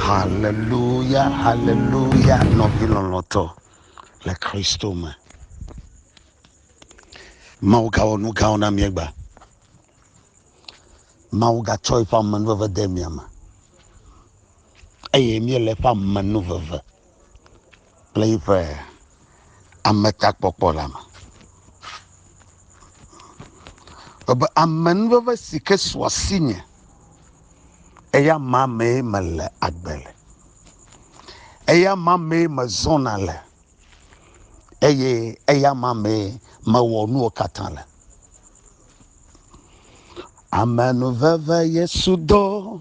Haleluya, haleluya, nɔvi lɔlɔ̃tɔ le Kristo me. Mawu gawɔ nu gãwo na mí egbea. Mawu gatsɔ eƒe amenuveve de mia me eye míele eƒe amenuveve. kple yiƒe ametakpɔkpɔ la me. Ebe amenuveve si ke su asinye eya ma mee mele agbe le, eya ma mee mezɔna le eye eya ma mee mewɔ nuwo katã le. Amenuveve Yesu do.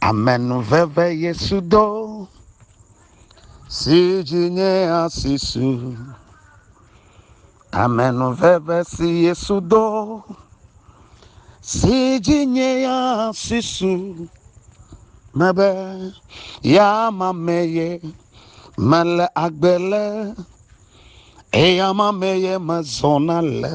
Amenuveve Yesu do, si dzi nye asi su. Amenuveve si Yesu do, si dzi nye asi su. Mebe, ya ma me ye mele agbe le, eya ma me ye mezɔna le.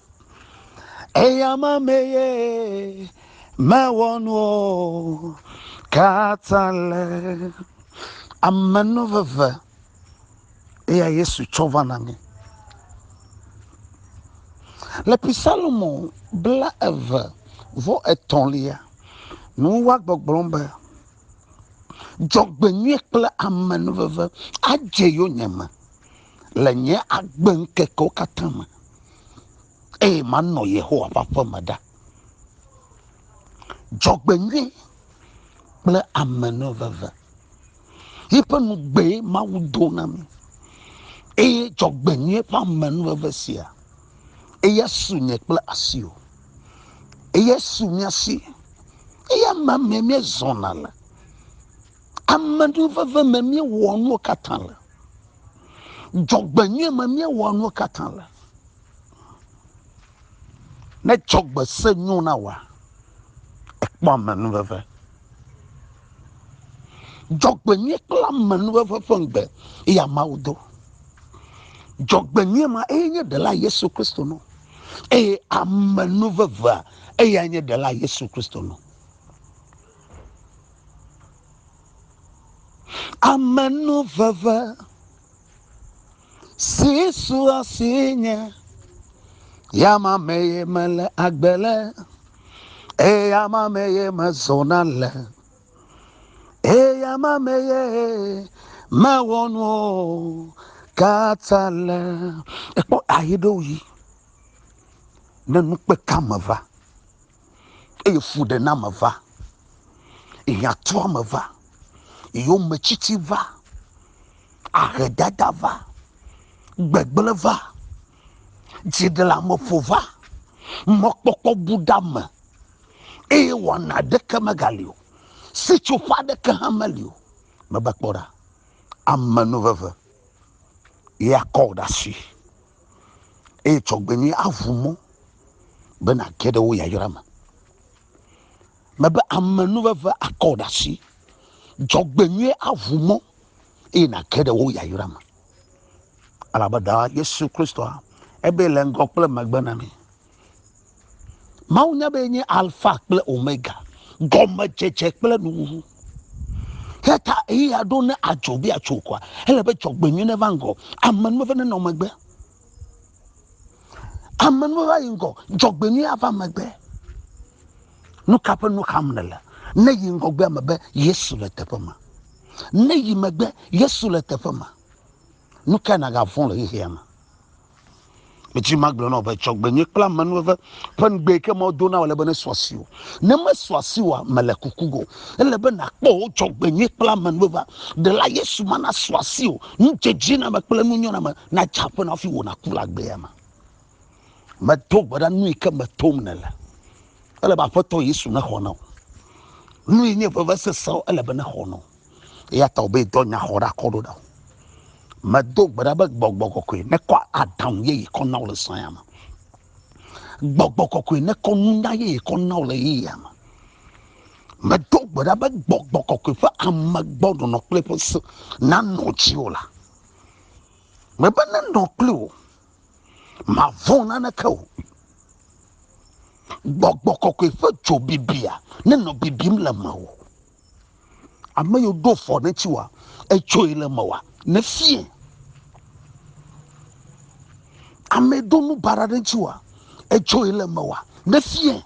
Eya ma meye mewɔ nuwo katã le. Amenuveve eya Yesu tsɔ va na mi. Le Psalmo bla eve vɔ etɔ̃lia, nu wa gbɔgblɔ be, Dzɔgbenyui kple amenuveve adze yonyeme. le nye agbeŋkekewo katã me, eye manɔ Yehowa ƒe aƒe me ɖa. Dzɔgbenyui kple amenuveve yi ƒe nugbee Mawu do na mí, eye dzɔgbenyui ƒe amenuveve sia, eya su nye kple asiwò, eya su mía si, eya ma mee míezɔna le. Ame ɖe veve me míewɔ nuwo katã le. Dzɔgbenyui me míewɔ nuwo katã le. Ne dzɔgbe se nyo na wa, ekpɔ ame nu veve. Dzɔgbenyui kple ame nu veve ƒe ŋgbe eya Mawu do. Dzɔgbenyui ma eye nye ɖela Yesu Kristo nɔ. Eye ame nu vevea eya nye ɖela Yesu Kristo nɔ. Amenuveve si su asi nye yama mee mele agbe le eye yama mee mezɔna le eye yama mee mewɔ nuwo katã le. Ekpɔ ayi ɖe wo yi ne nukpekame va. eye fuɖename va, hiãtuame va, yometsitsi va, ahedada va, gbegblẽ va, dziɖeleameƒo va, mɔkpɔkpɔ bu ɖe ame eye wɔna aɖeke megali o, sitsoƒe aɖeke hã meli o. Meva kpɔ ɖa, amenuveve ye akɔ wò ɖe asi. eye dzɔgbenyui aʋu mɔ be nàge ɖe wo yayra me. Mebe amenuveve akɔ wò ɖe asi. Dzɔgbenyui aʋu mɔ eye nàge ɖe wo yayra me. Elabe Ɖaa Yesu Kristoa ebe le ŋgɔ kple megbe na mí. Mawu nya be nye alfa kple omega, gɔmedzedze kple nuwuwu. Heta eya ɖo ne adzo be atso kɔa, ele be dzɔgbenyui neva ŋgɔ, amenuve nenɔ megbe. Amenuve va yi ŋgɔ, dzɔgbenyui ava megbe. Nu ka ƒe nu xam nèle? Ne yi ŋgɔgbea me be Yesu le teƒe ma. Ne yi megbe Yesu le teƒe ma. Nu ka nagavɔ̃ le xexea me? Edzi magblɔ na wò be dzɔgbenye kple amenuveve ƒe ŋugbee ke Mawu do na wò ale be nesɔ asi wò. Ne mesɔ asi wòa, mele kuku go. Ele be nàkpɔ wò dzɔgbenye kple amenuvevea. Ɖela Yesu ma nasɔ asi wò. Nudzedzename kple nunyɔname nadze aƒe na wò hafi wò nàku le agbea me. Medo gbe ɖa nui ke me tom nèle. Ele be Aƒetɔ Yesu nexɔ na wò. Nui nye vevesesewo ele be nexɔ na wò. eya ta wòbe dɔ nya xɔ ɖe akɔ ɖo ɖa medo gbe ɖa be gbɔgbɔ kɔkɔe nekɔ aɖaŋu yeye kɔ na wo le sãya me gbɔgbɔ kɔkɔe nekɔ nunya yeye kɔ na wo le yeyea me medo gbe ɖa be gbɔgbɔ kɔkɔe ƒe ame gbɔ nɔnɔ kple ƒe se nanɔ dziwò la mebe nenɔ kple wò mavɔ̃ naneke o gbɔgbɔ kɔkɔe ƒe dzo bibia nenɔ bibim le mewò ame yiwo ɖo fɔ ne tsi wa etsoe le me wa ne fie ame do nu bara ɖe tsi wa etsoe le me wa ne fie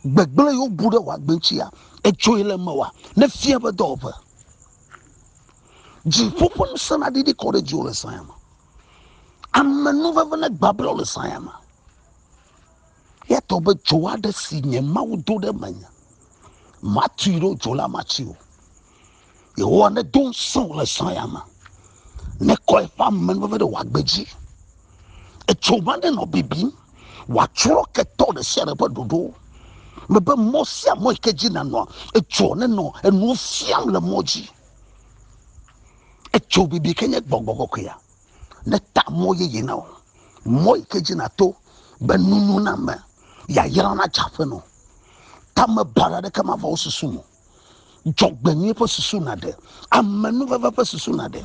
gbegblẽ yiwo bu ɖe wa gbentsia etsoe le me wa ne fie be dɔwɔƒe dziƒo ƒe ŋusẽ na ɖiɖi kɔ ɖe dziwo le saya me ame nuveve ne gbabla le saya me Eya tɔ be dzo aɖe si nye Mawu do ɖe menye. Matui ɖo dzo la matsi o. Yehowa nedo ŋusẽ le zã ya me. Nekɔ eƒe ame veve ɖe wòagbe dzi. Etso ma ɖe nɔ bibim. Wòatsrɔ̃ ketɔ ɖe sia ɖe ƒe ɖoɖo. Mebe mɔ sia mɔ yi ke dzi nanɔa, etso nenɔ enuwo fiam le mɔ dzi. Etso bibi ke nye gbɔgbɔ kɔkɔea. neta mɔ yeye na wò mɔ yi ke dzi nàto be nunu na me yayra nadze aƒe nɔ tamebara aɖeke mava wo susu mo dzɔgbenyui ƒe susu naɖe amenuveve ƒe susu naɖe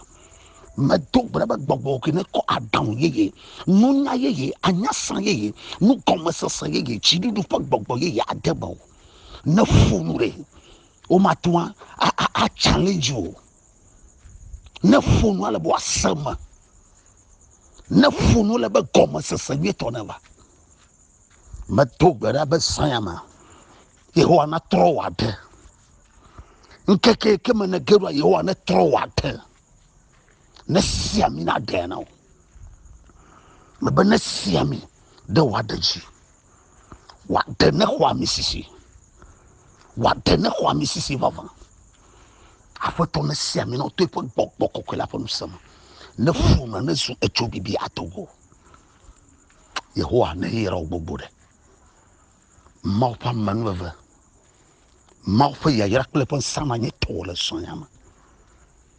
medo gbe be gbɔgbɔ ke ne kɔ aɖaŋu yeye nunya yeye anyasa yeye nugɔmesese yeye dziɖuɖu ƒe gbɔgbɔ yeye ade me o ne ƒo nu ɖe womate ŋu atsãle dzi o Ne ƒo nu ale be woase me. Ne ƒo nu le be gɔmesese nyuitɔ ne va. Medo gbe ɖa be zã ya me. Yehowa natrɔ wò aɖe. Ŋkeke ke me ne ge ɖoa Yehowa netrɔ wò aɖe. Ne si ami naɖe na wò. Mebe ne si ami ɖe wò aɖe dzi. Wòaɖe ne xɔ ami sisi. Wòaɖe ne xɔ ami sisi vavã. Aƒetɔ ne si ami nɔ to eƒe gbɔgbɔ kɔkɔe la ƒe ŋusẽ me. Ne ƒu me ne zu etso bibi ato go. Yehowa ne yeyra wo gbogbo ɖe. Mawu ƒe amenuveve Mawu ƒe yayra kple eƒe ŋusẽ ma nye tɔwò le srɔ̃nya me.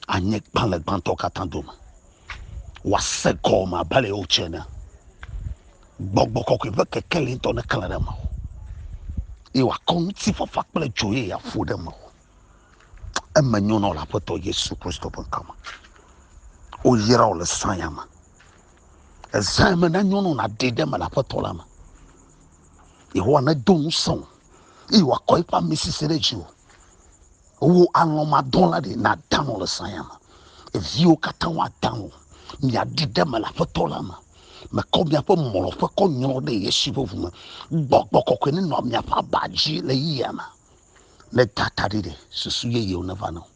Anye gbalẽgbãtɔ katã dome. Wòase gɔme abe ale wotse ene. Gbɔgbɔ kɔkɔe ƒe kekeli ŋutɔ neklẽ ɖe mewò. Eye wòakɔ ŋutifafa kple dzo eye aƒo ɖe mewò. Eme nyo nɔ le Aƒetɔ Yesu Kristo ƒe ŋkɔ me. Woyra wò le srɔ̃nya me. Ezã me nanyo nɔ nàɖe ɖe me le Aƒetɔ la me. Yehowa nedo ŋusẽ wò. eye wòakɔ eƒe amesese ɖe dziwò. Wò alɔ̃madɔla ɖe nàda alɔ̃ le saya me. Viwo katã woada alɔ̃. Miaɖi ɖe eme le Aƒetɔ la me. Mekɔ miaƒe mlɔƒe kɔ nyrɔ ɖe Yesu ƒe ʋu me. Gbɔgbɔ kɔkɔe nenɔ miaƒe aba dzi le yeyea me. Meda ta ɖi ɖe susu yeyewo neva na wò.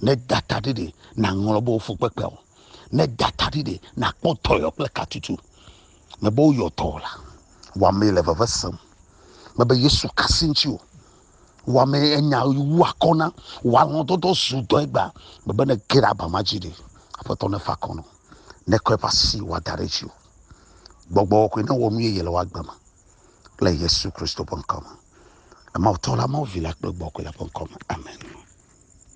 Ne data ɖi ɖe na ŋlɔ bo fu kpekpe o. Ne data ɖi ɖe na kpɔ tɔyɔ kple katutu. Me bo yɔ tɔ la. Wa me le veve sem. Me be Yesu kasi ŋci o. Wa me enya wu akɔ na. Wa lɔ dodo zu dɔ egba. Me be ne ge ɖe aba ma dzi ɖe. Aƒetɔ ne fa kɔnɔ. Ne kɔe va si wa da ɖe dzi o. Gbɔgbɔ kɔe ne wɔ nu ye yele wa gbe me. le Yesu Kristo ƒe ŋkɔ me. Emawutɔ la, Mawu Vi la kple Gbɔgbɔ kɔkɔe la ƒe ŋkɔ me. Amen.